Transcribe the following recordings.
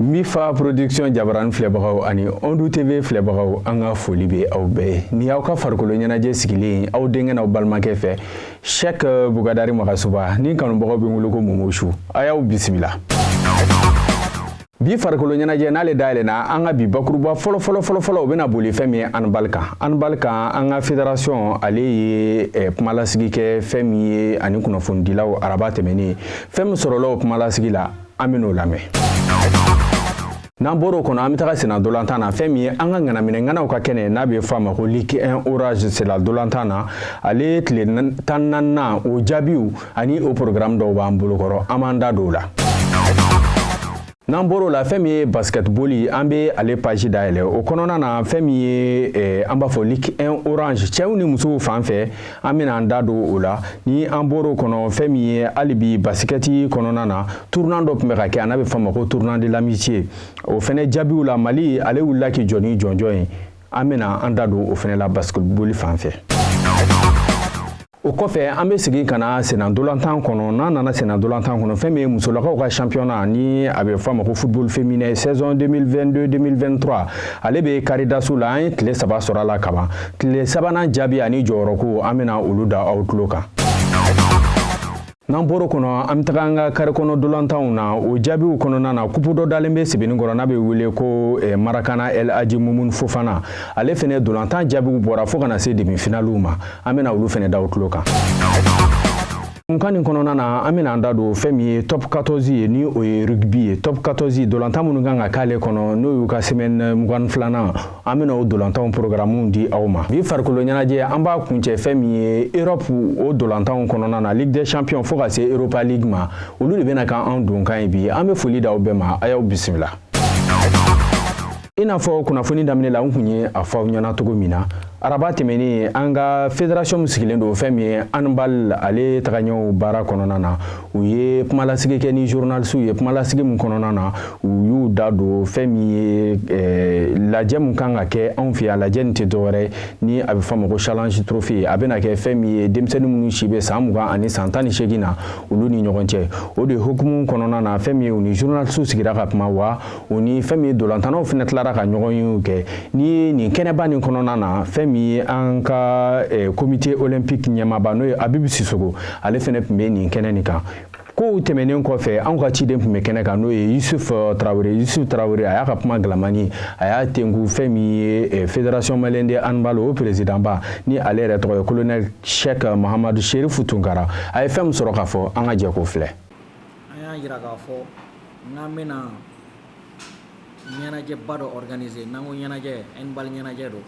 Mifa production jabarani filɛbagaw ani Ondu TV filɛbagaw an ka foli bɛ aw bɛɛ ye. Nin y'aw ka farikolo ɲɛnajɛ sigilen ye aw denkɛ n'aw balimakɛ fɛ Sɛki Bukadari Magasuba ni kanubagaw bɛ n wele ko Momosu a y'aw bisimila. bi farikolo ɲɛnajɛ n'ale dayɛlɛna an ka bi bakuruba fɔlɔ o bɛna boli fɛn min ye anbali kan anbali kan an ka federasɔn ale ye eh, kumalasigi kɛ fɛn min ye ani kunnafonidilaw araba tɛmɛnen fɛn min sɔrɔla o kumalasigi la an bɛn'o lamɛn n'an bɔr'o kɔnɔ an bɛ taga sena dolantan na fɛn min ye an ka ŋanaminɛŋanaw ka kɛnɛ n'a bɛ fɔ a ma ko liki 1 orange sena dolantan na ale tile tan ni naaninan o jaabiw ani o porogramu dɔw b'an bolokɔrɔ an b'an da don o la n'an bɔr'o la fɛn min ye baskɛtboli an bɛ ale paji dayɛlɛ o kɔnɔna na fɛn min ye eh, an b'a fɔ lik 1 orange cɛw ni musow fan fɛ an bɛna an da don o la ni an bɔr'o kɔnɔ fɛn min ye hali bi basikɛti kɔnɔna na tournoi dɔ tun bɛ ka kɛ a n'a bɛ fɔ a ma ko tournoi de l'amitié o fɛnɛ jaabiw la mali ale wulila k'i jɔ ni jɔnjɔn ye an bɛna an da don o fɛnɛ la baskɛtboli fan fɛ o kɔfɛ an bɛ segin ka na sena dolantan kɔnɔ n'an nana sena dolantan kɔnɔ fɛn min ye musolakaw ka championnat ni a bɛ fɔ a ma ko football féminin saison 2022-2023 ale bɛ karidaso la an ye tile saba sɔrɔ a la kaban tile sabanan jaabi ani jɔyɔrɔko an bɛna olu da aw tulo kan n'an bɔr'o kɔnɔ an bɛ taga an ka kare kɔnɔ dolantanw na o jaabiw kɔnɔna na kupu dɔ dalen bɛ sebenikɔrɔ n'a bɛ wele ko eh, marakana el aji mumun fofana ale fɛnɛ dolantan jaabiw bɔra fo ka na se demi finaliw ma an bɛna olu fɛnɛ da aw tulo kan kunkan nin kɔnɔna na an bɛna an da don fɛn min ye top 14 ye ni o ye rugby ye top 14 dolantan minnu kan ka k'ale kɔnɔ n'o y'u ka semaine mugan filanan an bɛna o dolantanw porogaramuw di aw ma bi farikolo ɲɛnajɛ an b'a kuncɛ fɛn min ye europe o dolantanw kɔnɔna na ligue des champions fo ka se europa league ma olu de bɛna k'an donkan ye bi an bɛ foli da aw bɛɛ ma a y'aw bisimila i n'a fɔ kunnafoni daminɛ la n kun ye a fɔ aw ɲɛna cogo min na araba tɛmɛnen an ka federasiɔn min sigilen don fɛn min ye anbal ale tagaɲɛw baara kɔnɔna na u ye kumalasigi kɛ ni journalisiw ye kumalasigi min kɔnɔna na u y'u da don fɛn min ye eh, lajɛ min kan ka kɛ anw fɛ yan lajɛ nin tɛ dɔwɛrɛ ni a bɛ fɔ a ma ko challenge trophy a bɛna kɛ fɛn min ye denmisɛnnin minnu si bɛ san mugan ani san tan ni seegin na olu ni ɲɔgɔn cɛ o de hukumu kɔnɔna na fɛn min ye u ni journalisiw sigira ka kuma wa o ni fɛn min ye ntolantannaw fana tilara ka ɲɔgɔn yew kɛ n'i ye nin kɛnɛba nin kɔnɔna na fɛn min ye an ka komite eh, olympique ɲɛmaaba n'o ye abibu sisoko ale fana tun bɛ nin kɛnɛ nin kan kow tɛmɛnen kɔfɛ anw ka ciden tun bɛ kɛnɛ kan n'o ye yusuf eh, tarawele yusuf tarawele a y'a ka kuma kalamani a y'a tenku fɛn min ye eh, fédération malienne de handball o présidentba ni ale yɛrɛ tɔgɔ ye colonel sheikh mahamadu sherifu tunkara a ye fɛn min sɔrɔ k'a fɔ an ka jɛ k'o filɛ an y'a jira k'a fɔ n'an bɛna ɲɛnajɛba dɔ organiser n'an ko ɲɛnajɛ handball ɲɛnajɛ don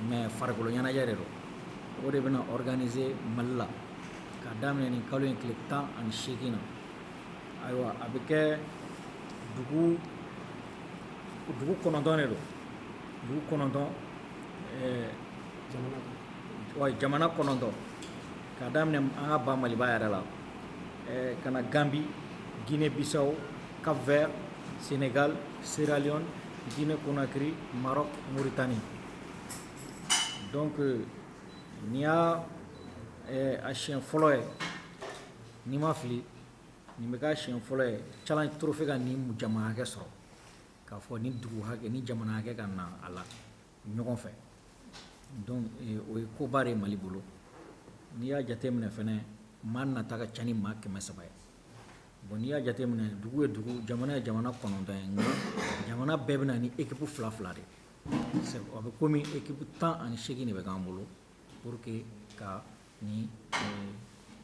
mais farikolo ɲɛnajɛ de don o de bɛna organiser mali la ka daminɛ nin kalo in tile tan ani seegin na ayiwa a bɛ kɛ dugu dugu kɔnɔntɔn de don dugu kɔnɔntɔn ɛɛ jamana kɔnɔntɔn ka daminɛ an ka ba maliba yɛrɛ la ka na ganbi jinɛ bisaw ka vɛ senka serali jinɛ kɔnɔnanakiri mara mori tanni dɔnku ni y'a a siyɛn fɔlɔ ye ni ma fili nin bɛ ka siyɛn fɔlɔ ye ca toro fɛ ka ni jamakɛ sɔrɔ k'a fɔ ni dugu hakɛ ni jamana hakɛ ka na a la ɲɔgɔn fɛ donc eh, o ye koba de ye mali bolo n'i y'a jateminɛ fɛnɛ maa nata ka ca ni maa kɛmɛ saba ye bon n'i y'a jateminɛ dugu ye dugu jamana ye jamana kɔnɔntɔn ye nka jamana bɛɛ bɛ na ni ekipu fila fila de ye a bɛ komi ekipu tan ani seegin de bɛ k'an bolo pour que ka nin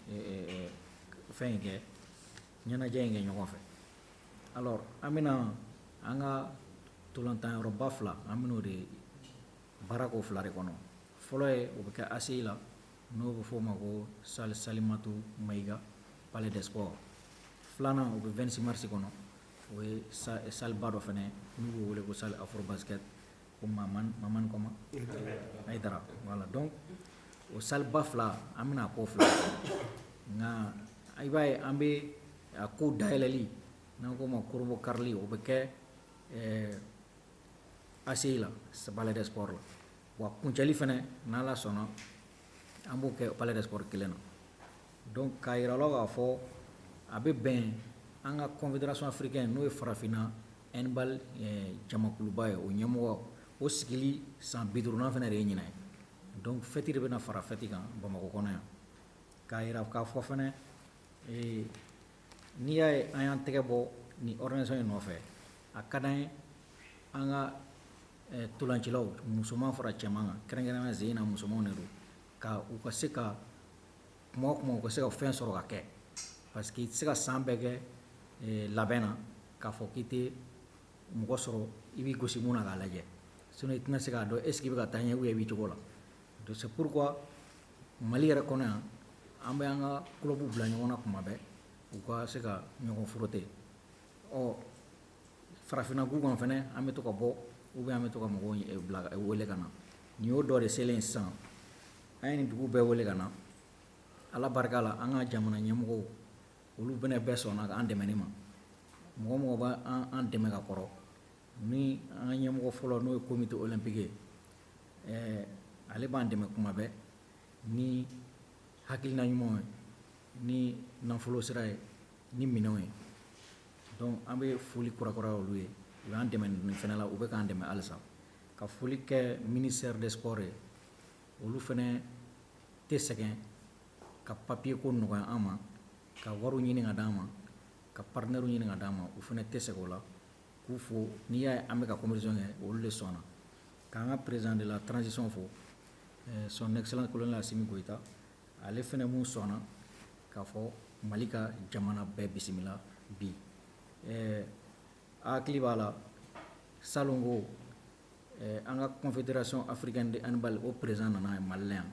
eh, eh, fɛn in kɛ ɲɛnajɛ in kɛ ɲɔgɔn fɛ alors an bɛna an ka ntolantan yɔrɔba fila an bɛn'o de baara k'o fila de kɔnɔ fɔlɔ ye o bɛ kɛ ACI la n'o bɛ f'o ma ko salle Salimatu Mayiga palais des sports filanan o bɛ 26 mars kɔnɔ o ye salle ba dɔ fana n'u b'o wele ko salle Afrobasket ko mamani mamani comment ayidara voilà donc o salle ba fila an bɛna k'o fila nka i b'a ye an bɛ a ko dayɛlɛli n'an k'o ma kurubonkarili o bɛ kɛ ɛɛ ACI la palais des sports la wa kuncɛli fana n'ala sɔnna an b'o kɛ palais des sports kelen na donc k'a yira aw la k'a fɔ a bɛ bɛn an ka confédération africaine n'o ye farafinna handball jamakuluba ye o ɲɛmɔgɔ o sigili san bi duurunan fana de ye ɲinan ye donc fɛti de bɛna fara fɛti kan bamakɔ kɔnɔ yan k'a yira k'a fɔ fana n'i y'a ye an y'an tɛgɛ bɔ nin organisation in nɔfɛ a ka d'an ye an ka ntolancilaw musoman fara cɛman kan kɛrɛnkɛrɛnnenya jeunes musomanw de don k' u ka se ka kuma o kuma u ka se ka fɛn sɔrɔ ka kɛ parce que i tɛ se ka san bɛɛ kɛ eh, labɛn na k'a fɔ k'i tɛ mɔgɔ sɔrɔ i b'i gosi mun na k'a lajɛ sinon i tɛna se k'a dɔn est ce que i bɛ ka taa ɲɛ ou bien i b'i cogo la donc c'est pourquoi mali yɛrɛ kɔnɔ yan an bɛ an ka kulɔbuw bila ɲɔgɔn na kuma bɛɛ u ka se ka ɲɔgɔn frotter ɔ farafinna gun kan fɛnɛ an bɛ to ka bɔ ou bien an bɛ to ka mɔgɔw eh, bila eh, wele ka na nin y'o dɔ de selen sisan an ye nin dugu bɛɛ wele ka na ala barika la an ka jamana ɲɛmɔgɔw olu fɛnɛ bɛɛ sɔnna k'an dɛmɛ ni ma mɔgɔ mɔgɔ bɛ an dɛmɛ ka kɔrɔ ni an ka ɲɛmɔgɔ fɔlɔ n'o ye comité olympique ye ɛɛ ale b'an dɛmɛ kuma bɛɛ ni hakilina ɲumanw ye ni nafolo sira ye ni minɛnw ye donc an bɛ foli kurakuraya olu ye u y'an dɛmɛ nin fɛnɛ la u bɛ k'an dɛmɛ halisa ka foli kɛ ministère des sports ye olu fɛnɛ tɛ sɛgɛn ka papiye ko nɔgɔya an ma ka wariw ɲini ka d'an ma ka partenaires ɲini ka d'an ma u fɛnɛ tɛ sɛgɛn o la k'u fo n'i y'a ye an bɛ ka compétition kɛ olu de sɔnna k'an ka président de la transition fo ɛɛ son excellence colonel assimi goïta ale fɛnɛ mun sɔnna k'a fɔ mali ka jamana bɛɛ bisimila bi ɛɛ a hakili b'a la salon ko An ka confédération africaine de handball o président nana ye mali yan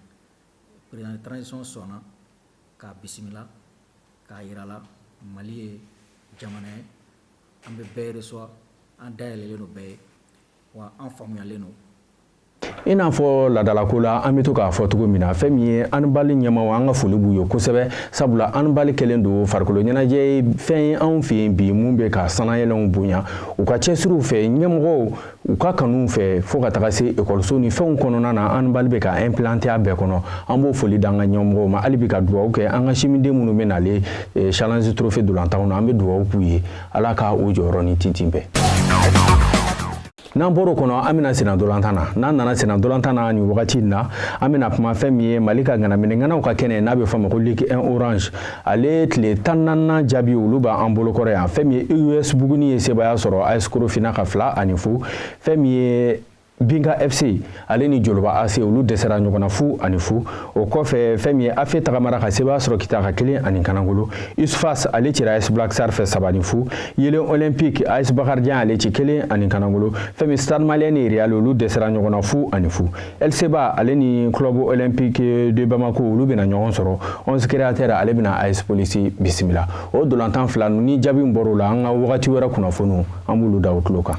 président de transition sɔnna k'a bisimila k'a jir'a la mali ye jamana ye an bɛ bɛɛ reçoit an da yɛlɛlen don bɛɛ ye wa an faamuyalen don i n'a fɔ ladalako la an bɛ to k'a fɔ cogo min na fɛn min ye handball ɲɛmaaw an ka foli b'u ye kosɛbɛ sabula handball kɛlen don farikolo ɲɛnajɛ ye fɛn ye anw fɛ yen bi mun bɛ ka sannayɛlɛnw bonya u ka cɛsiriw fɛ ɲɛmɔgɔw u ka kanuw fɛ fo ka taga se ekɔliso ni fɛnw kɔnɔna na handball bɛ ka implanter a bɛɛ kɔnɔ an b'o foli d'an ka ɲɛmɔgɔw ma hali bi ka dugawu kɛ an ka simiden minnu bɛ nale eh, challenge trophée ntolatanw na an bɛ dugawu k'u ye ala ka u jɔyɔrɔ ni tintin bɛn n'an bɔr'o kɔnɔ an bɛ na senna ntolatan na n'an nana senna ntolatan na nin wagati in na an bɛna kuma fɛn min ye mali ka ŋanaminɛŋanaw ka kɛnɛ n'a bɛ fɔ a ma ko ligue 1 orange ale tile tan naaninan jaabi olu b'an bolokɔrɔ yan fɛn min ye us buguni ye sebaaya sɔrɔ as korofina kan fila ani fu fɛn min ye binga fc ale ni joloba ac olu dɛsɛra ɲɔgɔn na fu ani fu o kɔfɛ fɛn min ye afe tagamara ka sebaaya sɔrɔ kita kan kelen ani kanangolo usfas ale cira as black star fɛ saba ni fu yelen olympique as bakarijan ale ci kelen ani kanangolo fɛn min ye stade malien ni real olu dɛsɛra ɲɔgɔn na fu ani fu LCBA ale ni club olympique de Bamako olu bɛna ɲɔgɔn sɔrɔ 11 créateurs ale bɛna AS Police bisimila o dolantan fila ni jaabi min bɔr'o la an ka wagati wɛrɛ kunnafoniw an b'olu da aw tulo kan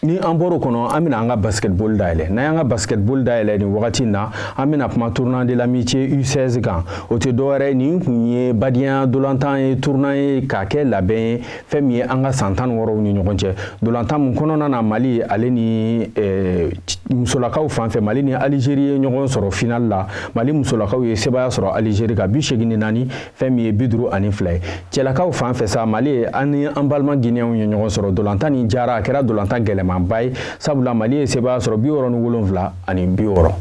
ni an bɔr'o kɔnɔ an bɛna an ka basketball dayɛlɛ n'an y'an ka basketball dayɛlɛ nin wagati in na an bɛna kuma tournoi de l'amitié U16 kan o tɛ dɔwɛrɛ nin kun ye badenya dolantan ye tournoi ye k'a kɛ labɛn ye fɛn min ye an ka san tan wɔɔrɔw ni ɲɔgɔn cɛ dolantan min kɔnɔna na mali ale ni eh, musolakaw fan fɛ mali ni alizeri ye ɲɔgɔn sɔrɔ final la mali musolakaw ye sebaya sɔrɔ alizeri ka bi seegin ni naani fɛn min ye bi duuru ani fila ye cɛlakaw fan fɛ sa mali ye an ni an balima giniyɛnw ye ɲɔgɔn sɔrɔ dolantan nin diyara a kɛra dolantan gɛlɛmanba ye sabula mali ye sebaya sɔrɔ bi wɔɔrɔ ni wolonfila ani bi wɔɔrɔ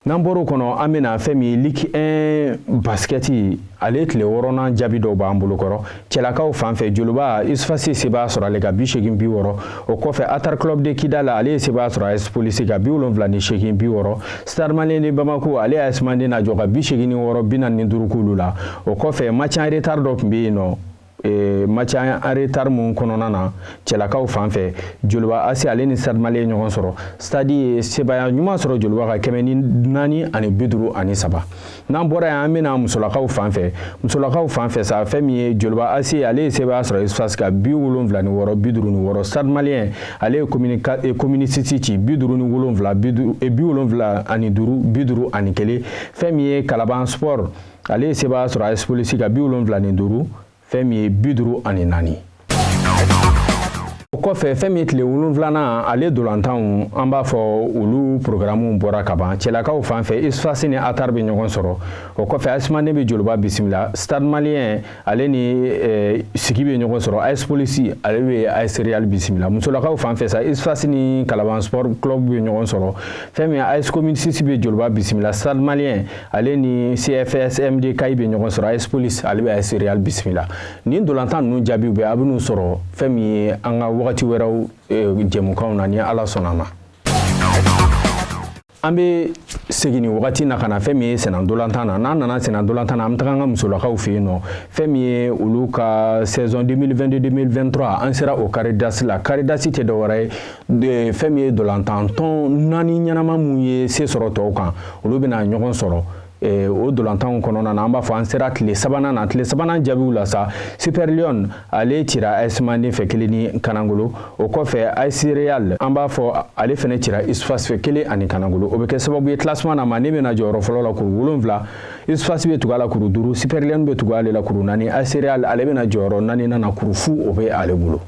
n'an bɔr'o kɔnɔ an bɛna fɛn min ye ligue 1 basikɛti ale tile wɔɔrɔnan jaabi dɔw b'an bolo kɔrɔ cɛlakaw fan fɛ joloba USFAS sebaya sɔrɔ ale ka bi seegin bi wɔɔrɔ o kɔfɛ atar club de kidal ale ye sebaya sɔrɔ as polisi ka bi wolonwula ni seegin bi wɔɔrɔ stade malien de bamako ale as manden najɔ ka bi seegin ni wɔɔrɔ bi naani ni duuru k'olu la o kɔfɛ match en retard dɔ tun bɛ yen nɔ e, match en retard min kɔnɔna na cɛlakaw fan fɛ joliba AC ale ni stade malien ye ɲɔgɔn sɔrɔ stade ye sebaya ɲuman sɔrɔ joliba ka kɛmɛ ni naani ani bi duuru ani saba n'an bɔra yan an bɛna musolakaw fan fɛ musolakaw fan fɛ sa fɛn min ye joliba AC ale ye sebaya sɔrɔ USFAS ka bi wolonwula ni wɔɔrɔ bi duuru ni wɔɔrɔ stade malien ale ye commune 6 e, ci bi duuru ni wolonwula bi e, wolonwula ani duuru bi duuru ani kelen fɛn min ye kalaban sport ale ye sebaya sɔrɔ AS polisi ka bi wolonwula ni duuru fɛn min ye bi duuru ani naani o kɔfɛ fɛn min ye tile wolonwulanan ale dolantanw an b'a fɔ olu porogaramuw bɔra ka ban cɛlakaw fan fɛ USFAS ni atar bɛ ɲɔgɔn sɔrɔ o kɔfɛ AS manden bɛ joliba bisimila stade malien ale ni eh, sigi bɛ ɲɔgɔn sɔrɔ AS Polisi ale bɛ AS Real bisimila musolakaw fan fɛ sa USFAS ni Kalaban Sport Club bɛ ɲɔgɔn sɔrɔ fɛn min AS Commune 6 bɛ Joliba bisimila Stade Malien ale ni CFS MD Kayi bɛ ɲɔgɔn sɔrɔ AS Polisi ale bɛ AS Real bisimila nin dolantan ninnu jaabiw bɛɛ aw bɛn'u sɔrɔ fɛn min ye an ka wagati wɛrɛw eh, jɛmukanw na ni Ala sɔnna a ma. an bɛ segin nin wagati na ka na fɛn min ye sennadolantan na n'an nana sennadolantan na an bɛ taga an ka musolakaw fɛ yen nɔ fɛn min ye olu ka saison 2022-2023 an sera o carré d'as la carré d'as tɛ dɔwɛrɛ ye fɛn min ye dolantan tɔn naani ɲɛnama minnu ye se sɔrɔ tɔw kan olu bɛna ɲɔgɔn sɔrɔ Eh, o ntolatanw kɔnɔna na an b'a fɔ an sera tile sabanan na tile sabanan jaabiw la sa super lionnes ale cira as manden fɛ kelen ni kanangolo o kɔfɛ as real an b'a fɔ ale fɛnɛ cira usfas fɛ kelen ani kanangolo o bɛ kɛ sababu ye classement na manden bɛna jɔyɔrɔ fɔlɔ la kuru wolonwula usfas bɛ tugu a la kuru duuru super lionnes bɛ tugu ale la kuru naani as real ale bɛna jɔyɔrɔ naaninan na kuru fu o bɛ ale bolo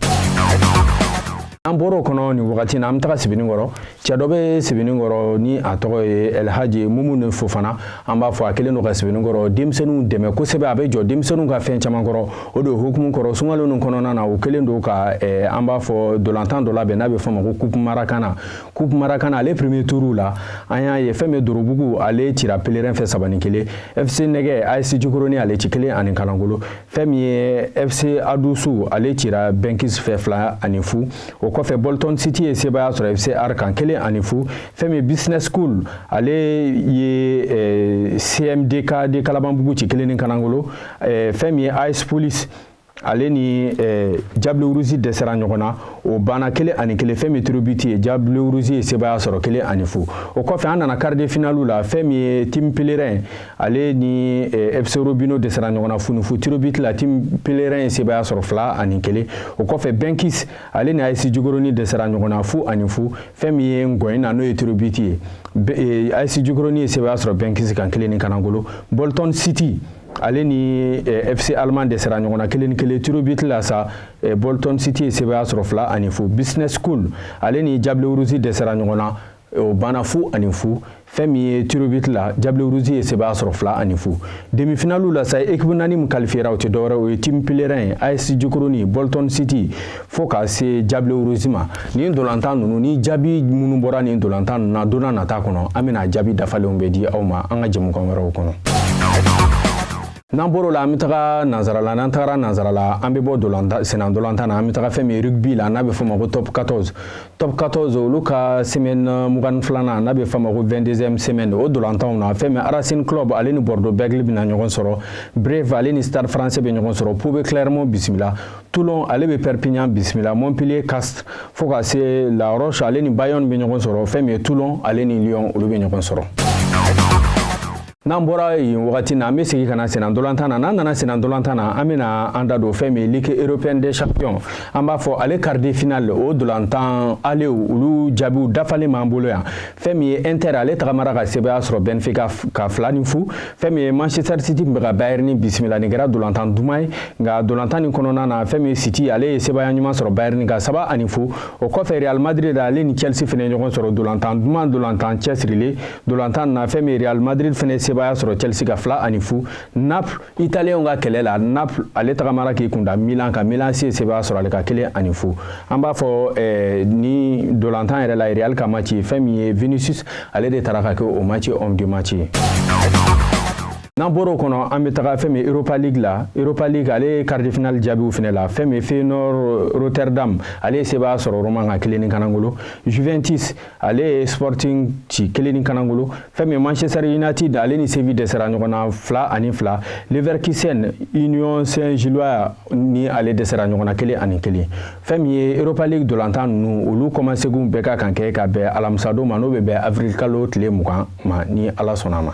an bɔr'o kɔnɔ nin wagati na an bɛ taga sebenikɔrɔ cɛ dɔ bɛ sebenikɔrɔ ni a tɔgɔ ye alhaji mumuni fofana an b'a fɔ a kɛlen don ka sebenikɔrɔ denmisɛnninw dɛmɛ kosɛbɛ a bɛ jɔ denmisɛnninw ka fɛn caman kɔrɔ o de hukumu kɔrɔ sunkalo nin kɔnɔna na o kɛlen don ka eh, an b'a fɔ ntolatan dɔ labɛn n'a bɛ f'o ma ko kupu marakana kupu marakana ale premier tour la an y'a ye fɛn min dorobugu ale cira pelerin fɛ saba ni kelen fc nɛgɛ as jikoroni ale ci kelen ani kalankolo fɛn min ye fc adusu ale cira benkis fɛ fila ani fu o kɔfɛ bolton city ye sebaaya sɔrɔ fc ar kan kelen ani fu fɛn min ye business school ale ye eh, cmdk de kalabanbugu ci kelen ni kanangolo eh, fɛn min ye as police ale ni eh, diable rouge dɛsɛra ɲɔgɔn na o banna kelen ani kelen fɛn min tir au but ye diable rouge ye sebaaya sɔrɔ kelen ani fu o kɔfɛ an nana quart de finale la fɛn min ye team pelerin ale ni eh, FC Robino dɛsɛra ɲɔgɔn na fu ni fu tir au but la team Pelerin ye sebaya sɔrɔ fila ani kelen o kɔfɛ Benkis ale ni AS Jikoronin dɛsɛra ɲɔgɔn na fu ani fu fɛn min ye ngɔyɔ na n'o ye tir au but ye eh, AS Jikoronin ye sebaya sɔrɔ Benkis kan kelen ni kanangolo Bolton City ale ni eh, FC Allemand dɛsɛra ɲɔgɔn na kelen ni kelen tir au but la sa Bolton City ye sebaya sɔrɔ fila ani fu Business School ale ni Diable Rouge dɛsɛra ɲɔgɔn na o banna fu ani fu fɛn min ye tir au but la diable rouge ye sebaya sɔrɔ fila ani fu demifinaliw la sa ekipu naani min kalifiyera o tɛ dɔwɛrɛ o ye team pelerin ye as jikoroni bolton city fo ka se diable rouge ma nin ntolatan ninnu ni jaabi minnu bɔra nin ntolatan ninnu na don nata kɔnɔ an bɛna jaabi dafalenw bɛɛ di aw ma an ka jɛmukan wɛrɛw kɔnɔ n'an bɔr'o la an bɛ taga nansara la n'an tagara nansara la an bɛ bɔ sennantolatan na an bɛ taga fɛn min rugby la n'a bɛ f'o ma ko top 14 Top 14 olu ka semaine 22 nan n'a bɛ f'a ma ko 22e semaine o ntolatanw na fɛn min Racing Club ale ni Bordeaux Bègles bɛna ɲɔgɔn sɔrɔ Brive ale ni Stade Français bɛ ɲɔgɔn sɔrɔ Pau bɛ Clermont bisimila Toulon ale bɛ Perpignan bisimila Montpellier Castres fo ka se La Roche ale ni Bayonne bɛ ɲɔgɔn sɔrɔ fɛn min ye Toulon ale ni Lyon olu bɛ ɲɔgɔn sɔrɔ. N'an bɔra yen wagati na an bɛ segin ka na sennantolatan na n'an nana sennantolatan na an bɛna an da don fɛn min ligue européenne des champions an b'a fɔ ale quart de finale o ntolatan alew olu jaabiw dafalen b'an bolo yan fɛn min ye inter ale tagamara ka sebaaya sɔrɔ benfica kan fila ni fu fɛn min ye manchester city tun bɛ ka bayern bisimila nin kɛra ntolatan duman ye nka ntolatan nin kɔnɔna na fɛn min ye city ale ye sebaaya ɲuman sɔrɔ bayern kan saba ani fu o kɔfɛ real madrid ale ni chelsea fana ɲɔgɔn sɔrɔ ntolatan duman ntolatan cɛsirilen Dolantan na fɛn min Real Madrid fɛnɛ ye sebaaya sɔrɔ Chelsea ka fila ani fu Naples italiyɛnw ka kɛlɛ la Naples ale tagamara k'i kunda Milan kan Milan AC ye sebaaya sɔrɔ ale ka kelen ani fu an b'a fɔ eh, ni dolantan yɛrɛ la Real ka match ye fɛn min ye Vinicius ale de tara ka kɛ o match homme du match ye n'an bɔra o kɔnɔ an bɛ taga fɛn min europa league la europa league ale ye quart de finale jaabiw fɛnɛ la fɛn min feyenoord rotterdam ale ye sebaaya sɔrɔ roma ka kelen ni kanangolo juventus ale ye sporting ci kelen ni kanangolo fɛn min manchester united ale ni séville dɛsɛra ɲɔgɔn na fila ani fila leverkusen union saint gilloise ni ale dɛsɛra ɲɔgɔn na kelen ani kelen fɛn min ye europa league dolantan ninnu olu kɔmaseginw bɛɛ ka kan kɛ ka bɛn alamisadon ma n'o bɛ bɛn avril kalo tile mugan ma ni ala sɔnna ma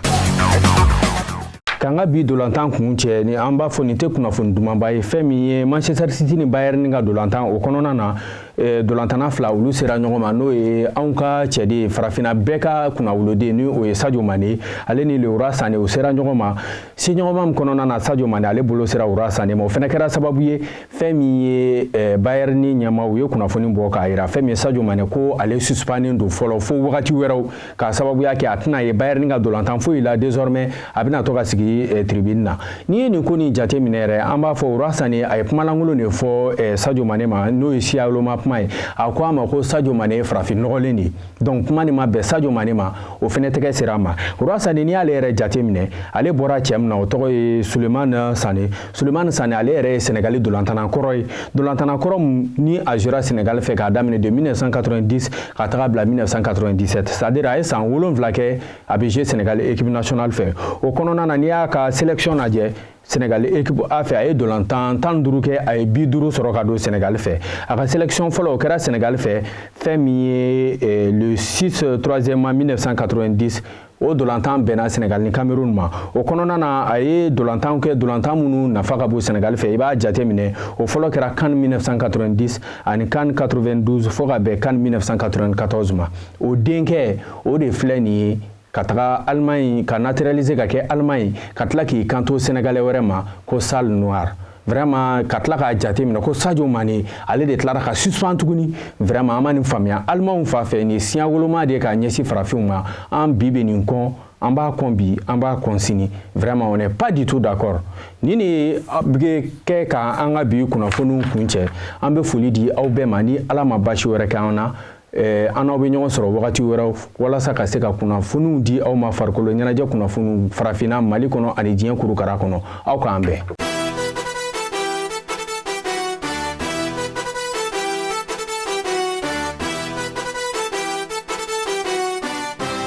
k'an ka bi dolantan kuncɛ ni an b'a fɔ nin tɛ kunnafoni dumanba ye fɛn min ye manchester city ni bayern ka dolantan o kɔnɔna na Eh, dolantana fila olu sera ɲɔgɔn ma n'o ye anw ka cɛden farafina bɛɛ ka kunnawoloden ni o ye sajo mane ale ni leroy sane u sera ɲɔgɔn ma seɲɔgɔnma min kɔnɔna na sajo mane ale bolo sera leroy sane ma o fɛnɛ kɛra sababu ye fɛn min ye eh, bayern ɲɛmaaw ye kunnafoni bɔ k'a yira fɛn min ye sajo mane ko ale suspannen don fɔlɔ fo wagati wɛrɛw k'a sababuya kɛ a tɛna ye bayɛrɛni ka dolantan foyi la désormais a bɛna to ka sigi eh, tribune na n'i ye nin ko nin jate minɛ yɛrɛ an b'a fɔ leroy sane a ye kumalankolon de fɔ eh, sajo mane ma n'o ye siyawoloma kuma ye a ko a ma ko sajo mane ye farafin nɔgɔlen de ye donc kuma nin ma bɛn sajo mane ma o fɛnɛ tɛgɛ sera a ma leroy sane n'i y'ale yɛrɛ jate minɛ ale bɔra cɛ min na o tɔgɔ ye suleman sane Sulemani Sane ale yɛrɛ ye Senegali dolantana kɔrɔ ye dolantana kɔrɔ ni a jouera Senegali fɛ k'a daminɛ de 1990 ka taga bila 1997 c'est à dire a ye san wolonwula kɛ a bɛ jouer Senegali équipe nationale fɛ o kɔnɔna na n'i y'a ka sélection lajɛ Senegali équipe A fɛ a ye dolantan tan ni duuru kɛ a ye bi duuru sɔrɔ ka don Senegali fɛ a ka sélection fɔlɔ o kɛra Senegali fɛ fɛn min ye eh, le 6 3 mai 1990 o dolantan bɛnna sɛnɛgali ni kamerun ma o kɔnɔna na a ye dolantanw kɛ dolantan minnu nafa ka bon sɛnɛgali fɛ i b'a jate minɛ o fɔlɔ kɛra CAN 1990 ani CAN 92 fɔɔ ka bɛn CAN 1994 ma o denkɛ o de filɛ nin ye ka taga alemaɲi ka naturalize ka kɛ aleman ye ka tila k'i kanto sɛnɛgalɛ wɛrɛ ma ko sale noir vraiment ka tila k'a jate minɛ ko sajo mane ale de tilara ka suspan tuguni vraiment an ma nin faamuya alimanw fan fɛ nin ye siyawoloma de ye k'a ɲɛsin farafinw ma an bi bɛ nin kɔn an b'a kɔn bi an b'a kɔn sini vraiment on n'est pas du tout d'accord ni nin bɛ kɛ ka an ka bi kunnafoniw kuncɛ an bɛ foli di aw bɛɛ ma ni ala ma basi wɛrɛ kɛ an na Eh, an n'aw bɛ ɲɔgɔn sɔrɔ wagati wɛrɛw walasa ka se ka kunnafoniw di aw ma farikolo ɲɛnajɛ kunnafoniw farafinna mali kɔnɔ ani diɲɛ kurukara kɔnɔ aw k'an bɛn